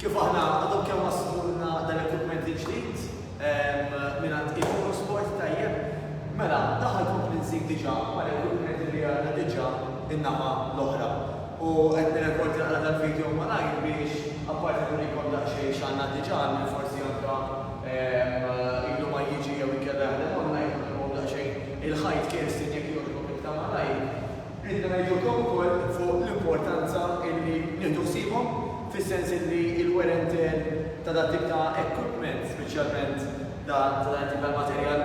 Kif aħna għadhom kemm waslulna dan l-equipment il-ġdid mingħand Iconu Sport, tajjeb, mela daħal kompli nżid diġà mal-equipment li għandna diġà in-naħa l-oħra. U qed nirrekord naqra tal-video malajr biex apparti nurikom daqsxejn x'għandna diġà għal min forsi anke ilu ma jiġi jew inkella jaħdem online, nurikom daqsxejn il-ħajt Kerstin jekk jogħġbok iktar malajr. Ridna ngħidulkom ukoll fuq l-importanza illi nieħdu ħsiebhom, fis-sens illi l-wear and tear ta' dat tip ta' equipment, speċjalment ta' dan it-tip tal-materjal,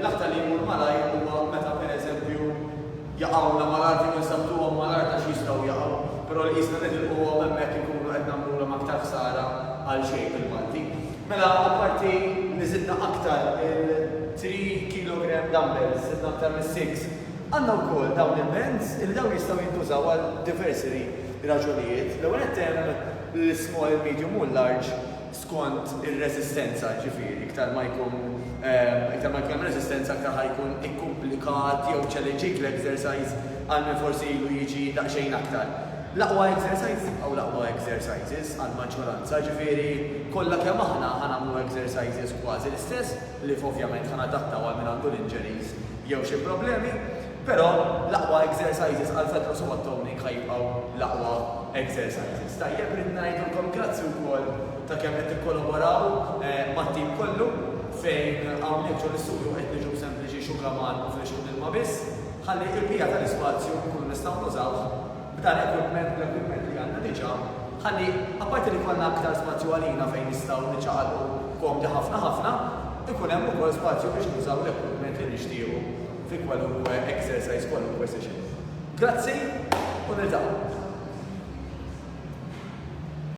l-aktar li jmur malajr huwa meta pereżempju jaqgħulna mal-art jew insabbtuhom mal-art għax jistgħu jaqgħu, però li qisna nitilquhom hemmhekk inkunu qed nagħmlulhom aktar ħsara għal xejn bil-Malti. Mela apparti li żidna aktar il-three kilogram dumbbells, żidna aktar mis-six Għandna wkoll dawn il-bands illi dawn jistgħu jintużaw għal diversi raġunijiet. L-ewwel nett hemm l-ismall, il-medium u l-large skont ir-reżistenza, ġifieri iktar ma jkun iktar ma jkun hemm reżistenza aktar ħa jkun ikkumplikat jew ċeleġik l-exercise għal min forsi ilu jiġi daqsxejn aktar. L-aqwa exercises jibqgħu l-aqwa exercises għall-maġġoranza, ġifieri kollha kemm aħna ħa nagħmlu exercises kważi l-istess li ovvjament ħa nadattaw għal min għandu l-injuries jew xi problemi, però l-aqwa exercises għal Fetros u għat-Toning ħa jibqgħu l-aqwa exercises. Tajjeb, rrid ngħidilkom grazzi wkoll ta' kemm qed tikkolaboraw mat-tim kollu fejn hawnhekk ġo l-istudju qed niġu b'sempliċi xugaman u flixkun ilma biss, ħalli l-bqija tal-ispazju nkunu nistgħu nużawh b'dan equipment, bl-equipment li għandna diġà, ħalli apparti li jkollna aktar spazju għalina fejn nistgħu niċċaqalqu komdi ħafna ħafna, ikun hemm ukoll spazju biex nużaw l-equipment li nixtiequ fi kwalunkwe exercise, kwalunkwe session. Grazzi u niltaqgħu.